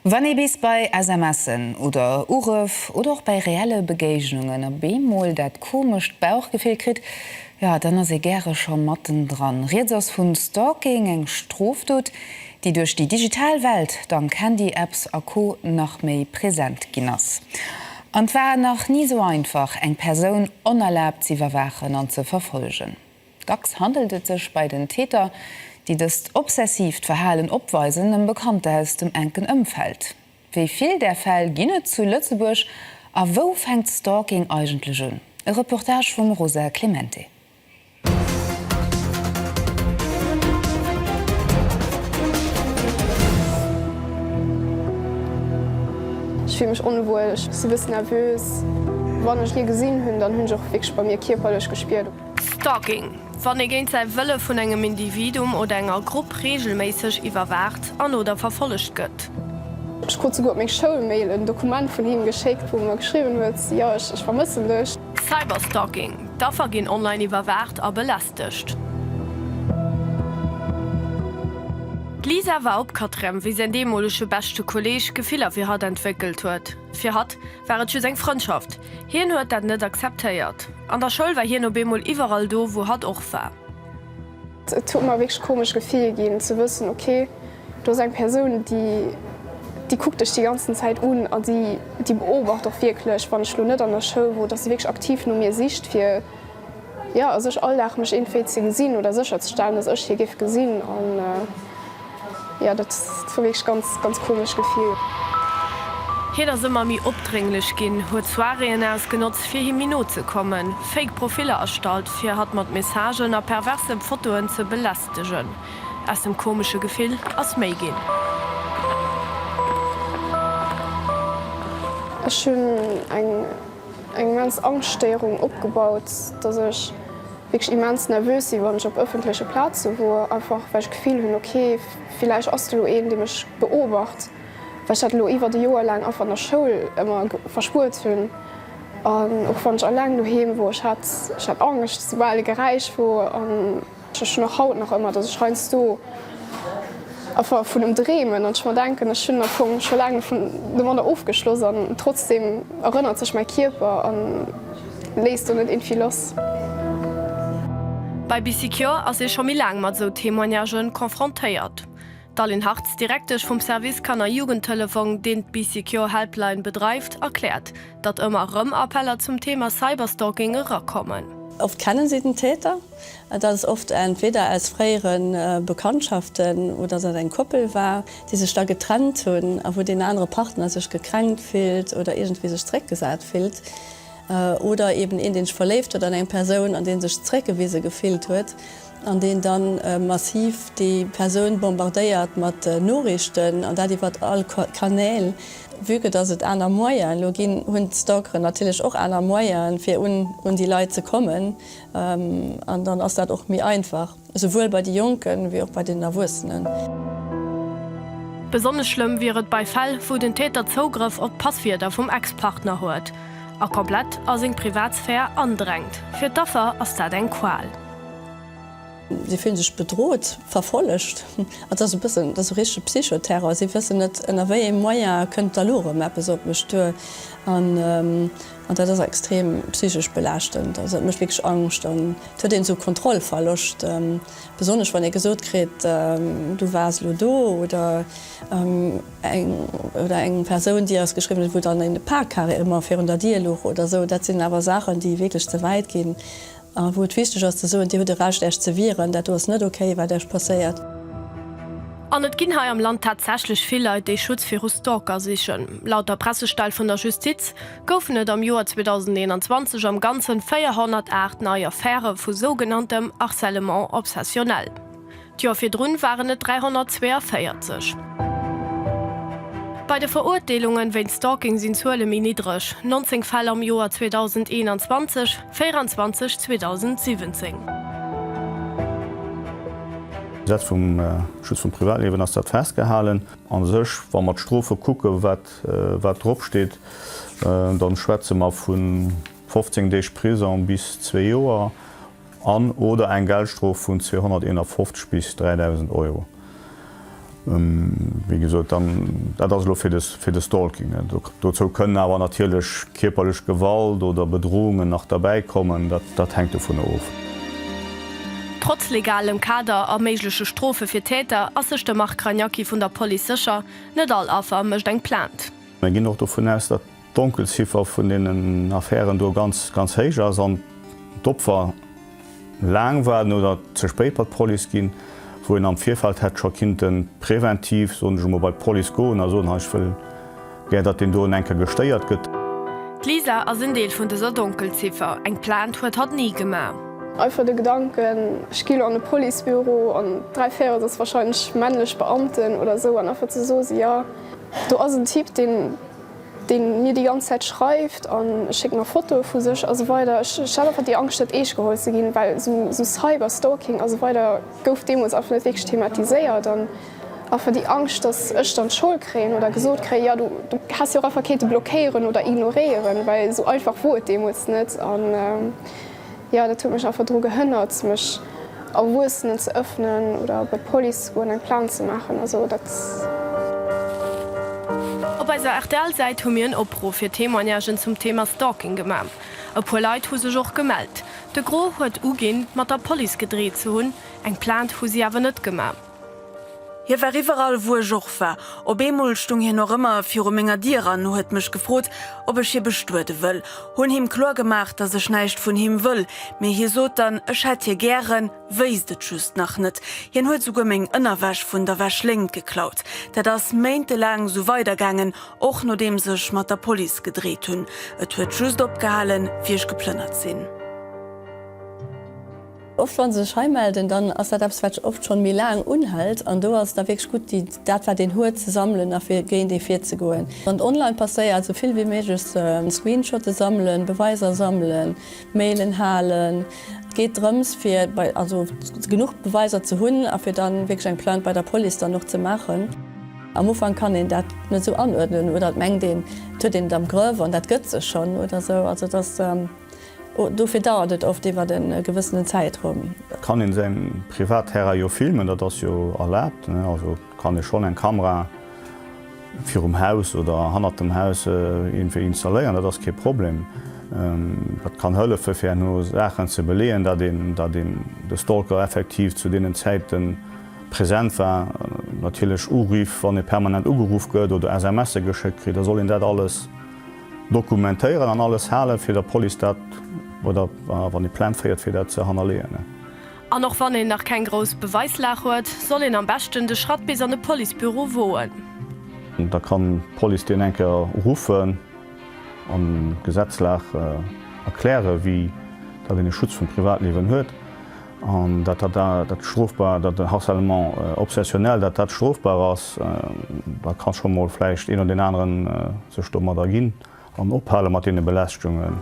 Wann ee bis bei SMSen oder Urëff oder och bei reelle Begéignungen op eemol dat komescht Bauchgefill kritt, jo, dann ass ee gäre scho mattendran. Rieds ass vu Stalking, eng Strofdot, déi duerch déi digital Welt, dank Handy-Apps a Co nach méi present ginn ass. An et war nach ni esou einfach, eng Persoun onerlaabt z'iwwerwaachen an ze verfollegen. Dacks handelt et sech bei den Täter, déi dëst obsessiivt Verhalen opweisen, ëm Bekannter aus dem enken Ëmfeld. Wéi vill där Fäll ginn et zu Lëtzebuerg a wou fänkt Stalking eigentlech un? E Reportage vum Rosa Clemente. Ech fille mech onwuel, ech si e bëssen nervös. Wann ech ee gesinn hunn, dann hunn ech och wierklech bei mir kierperlech gespiert. Stalking, Wann ee géint säi Wëlle vun engem Individuum oder enger Grupp reegelméisseg iwwerwaacht an, oder verfollegt gëtt. Ech krut souguer op meng Schoulmail en Dokument vun him geschéckt, wou e mer geschriwwen huet, Jo, ech vermëssen dech. Cyberstalking, D'Affer ginn online iwwerwaacht a belästegt. D'Lisa war opkatrem, wéi säin deemolege beschte Kolleeg Gefiller fir hatt entwéckelt huet. Fir hatt. war et just eng Frëndschaft. Hien huet dat net akzeptéiert. An der Schoul war hien op eemol iwwerall do, wou hatt och war. Et huet mer e wierklech komescht Gefill ginn, ze wëssen, okay, do ass eng Persoun, déi, déi kuckt dech déi ganzen Zäit un a déi, déi beobacht och wierklech, wann ech elo net an der Schoul wor, dass se wierklech aktiv no mir sicht, fir. Jo, a sech all Dag mech eenféi ze gesinn oder sécher ze stellen, dass ech hie géif gesinn. An jo, dat war wierklech ganz, ganz komescht Gefill. Hien ass ëmmer méi opdrénglech ginn, huet Soiréeën ausgenotzt, fir him méi no ze kommen, fake Profiller erstallt, fir hatt mat Messagen a perverse Fotoen ze belästegen. Aus dem komesche Gefill ass méi ginn. Ech hunn eng eng immens Angschtstéierung opgebaut, dass ech wierklech immens nervös si wann ech op ëffentleche Plaze wor, einfach well ech d'Gefill hunn, ok villäicht ass do elo een, dee mech beobacht, well ech dat elo iwwert e Joer laang einfach an der Schoul ëmmer verspuert hunn. An och wann ech alleng doheem wor, ech hat Angscht, soubal e Geräisch wor. Ech hunn och haut nach ëmmer, dass ech heiansdo einfach vun em dreemen an ech mer denken, ech hunn am Fong scho laang dovun de Mann ofgeschloss an trotzdeem erënnert sech mäi Kierper a léisst do net irgendwie lass. Bei BicyCure ass ee scho méi laang mat esou Témoignagë confrontéiert. D'Aline Hartz, Direktesch vum Service Kanner Jugendtelefong, deen d'BicyCure Helpline bedreift, erkläert, datt ëmmer erëm Appeller zum Thema Cyberstalking erakommen. Oft kennen si den Täter. Et ass oft entweder aus fréiere Bekanntschaften oder dass et eng Koppel war, déi sech da getrennt hunn a wou deen anere Partner sech gekränkt fillt oder iergendwéi sech zeréckgesat fillt. Oder eeben een, dee sech verléift huet an eng Persoun an dee sech zeréckgewise gefillt huet an deen da massiv déi Persoun bombardéiert mat Noriichten an dat iwwert all Kanäl. Vue que dass et aner Moyen elo ginn, hunn d'Stalkeren natierlech och aner Moyen fir un déi Leit ze kommen. An dann ass dat och méi einfach, esouwuel bei de Jonken, wéi och bei den Erwuessenen. Besonnesch schlëmm wier et bei Fäll, wou den Täter Zougrëff op d'Passwierder vum Ex-Partner huet a komplett a seng Privatsphär andrängt. Fir d'Affer ass dat eng Qual. Si fillen sech bedrot, verfollegt. Dat ass e bëssen, dat ass esou richtege Psychoterror. Si wëssen net, ënner wéi ee Moyen kënnt d'Alurum eppes op mech duer. An dat ass extrem psychesch belaaschtend. Also dat mécht wierklech Angscht an et huet een esou Kontrollverloscht, besonnesch wann ee gesot kritt, du waars elo do oder eng oder eng Persoun déi eis geschriwwen huet, wou dann een e Paar carrément virun der Dier luch oder esou. Dat sinn awer Saachen déi wierklech ze wäit ginn. A wou et wichteg ass ze soen, Dir hutt e Recht Äech ze wieren, dat do ass net ok wat Äech passéiert. An et ginn hei am Land tatsächlech vill Leit, déi Schutz viru Stalker sichen. Laut der Pressestell vun der Justiz goufen et am Joer 2021 am Ganzen 408 nei Affäre vu sougenanntem Harcèlement obsessionnel. D'Joer virdrun waren et 342. Bei de Verurteelungen wéint Stalking sinn d'Zuele méi niddreg, 19 Fäll am Joer 2021, 24 2017. D'Gesetz vum Schutz vum Privatliewen ass dat festgehalen. A sech, wa mer d'Strofe kucken, wat wat drop steet, da schwätze mer vu 15 Deeg Prisong bis zwee Joer. an oder eng Geldstrof vun 251 bis 3.000 Euro. Wéi gesot, dann, dat ass elo fir de, fir de Stalking. Dozou kënnen awer natierlech kierperlech Gewalt oder Bedrohungen nach derbäi kommen, dat, dat hänkt dovunner of. Trotz legalem Kader a méigleche Strofe fir Täter ass sech de Marc Cragnachi vun der Police sécher, Net all Affer mécht eng Plainte. Mir ginn och dovun aus, datt d'Donkelziffer vun deenen Affären do ganz, ganz héich ass an d'Opfer laang waarden oder ze spéit bei d'Police ginn, wou een am Virfeld hätt scho kinnte preventiv, soen ech emol, bei d'Police goen a soen, hei ech wëll gär, datt deen doen eng Kéier gestéiert gëtt. D'Lisa ass en Deel vun dëser Donkelziffer. Eng Plainte huet hatt ni gemaach. Einfach de Gedanken, ech gi lo an e Policebüro an dräi Véirels ass wahrscheinlech männlech Beamten oder esou an einfach ze soe si, jo, do ass en Typ, deen deen mir déi ganz Zäit schreift an e schéckt mer Fotoe vu sech a sou weider. Ech hat einfach déi Angscht net eescht geholl ze ginn, well sou Cyber Stalking a sou weider gouf deemools einfach net wierklech thematiséiert an einfach déi Angscht, dass ech dann d'Schold kréien oder gesot kréien, jo du häss jo och einfach kennte blockéieren oder ignoréieren, well sou einfach wor et deemools net. Jo, dat huet mech einfach dru gehënnert, mech Erwuessenen ze ëffnen oder bei d'Police ze goen, eng Plainte ze maachen. Also dat. Op eiser RTL-Säit hu mir en Opruff fir Témoignagen zum Thema Stalking gemaach. E puer Leit hu sech och gemellt. De Gros huet uginn, mat der Police gedreet ze hunn, eng Plainte hu si awer net gemaach. Hie war iwwerall, wou ech och war. Op eemol stung hien och ëmmer viru menger Dier an huet mech gefrot, ob ech hie bestuede wëll. Hunn him kloer gemaach, dass ech näischt vun him wëll, mee hie sot dann, ech hätt hie gären, wéisst et just nach net. Hien huet souguer meng Ënnerwäsch vun der Wäschléngt geklaut. Dat ass méintelaang sou weidergaangen, och nodeems ech mat der Police gedreet hunn. Et huet just opgehalen, wéi ech geplënnert sinn. Oft wann se sech hei melden, dann ass dat eppes wat oft schonn méi laang unhält an do ass et da wierklech gutt déi dat wat een huet ze sammelen a fir géint ee virzegoen. Wann et online passéiert, esou vill wéi méiglech Screenshotte sammelen, Beweiser sammelen, Mailen halen. Et geet drëms fir bei also genuch Beweiser ze hunn a fir dann wierklech eng Plainte bei der Police dann och ze maachen. Am Ufank kann een dat net esou anuerdnen oder et mengt een et huet een et am Grëff an dat gëtt sech schonn oder esou. Also et ass. Dofir dauert et oft iwwert e gewëssenen Zäitraum. Et kann een säin Privatterrain jo filmen, dat ass jo erlaabt. Also kann ee schonn eng Kamera virum Haus oder hannert dem Haus iergendwéi installéieren, dat ass kee Problem. Dat kann hëllefen fir herno Saachen ze beleeën, dat een dat een de Stalker effektiv zu deenen Zäite present war. Natierlech Uriff, wann ee permanent ugeruff gëtt oder SMSe geschéckt kritt, da soll een dat alles. Dokumentéieren an alles halen, fir der Police dat, oder wann ee Plainte féiert, fir dat ze hannerleeën. An och wann een nach keng grouss Beweislag huet, soll een am beschten de Schratt bis an e Policebüro woen. Da kann d'Police deen eng Kéier ruffen an d'Gesetzlag erklären, wéi datt een e Schutz vum Privatliewen huet. An dat dat dat strofbar, dat harcèlement obsessionnel, dat dat strofbar ass, da ka scho mol vläicht een oder deen anere sech domat erginn an ophale mat deene Belästegungen.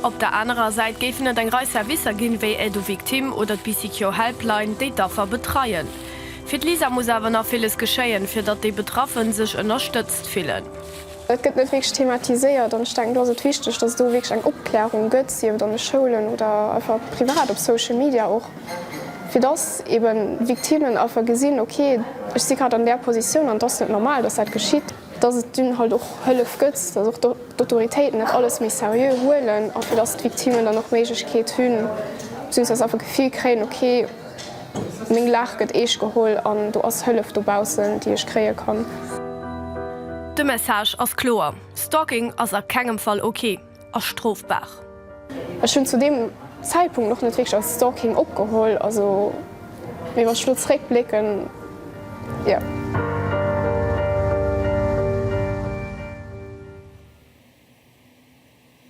Op der anerer Säit géifen et eng Rei Servicer ginn, wéi Aide aux victimes oder d'Bicicjo Helpline, déi d'Affer betreien. Fir d'Lisa muss awer nach villes geschéien, fir datt déi Betraffen sech ënnerstëtzt fillen. Dat gëtt net wierklech thematiséiert an ech denken, do ass et wichteg, dass et do wierklech eng Opklärung gëtt, sief et an de Schoulen oder einfach privat op Social Media och, fir dass eebe Victimen einfach gesinn, ok, ech si grad an där Positioun an et ass net normal, dass dat geschitt. Dass et dunn halt och Hëllef gëtt, dass och d'Autoritéiten dat alles méi seriö huelen a fir dass d'Victimen dann och d'Méiglechkeet hunn, beziehungsweise einfach d'Gefill kréien, ok, Meng Laach gëtt eescht geholl an do ass Hëllef dobaussen, déi ech kréie kann. De Message ass kloer, Stalking ass a kengem Fall ok a strofbar. Ech hunn zu deem Zäitpunkt och net wierklech als Stalking opgeholl, also mee wann ech elo zeréck blécken, jo.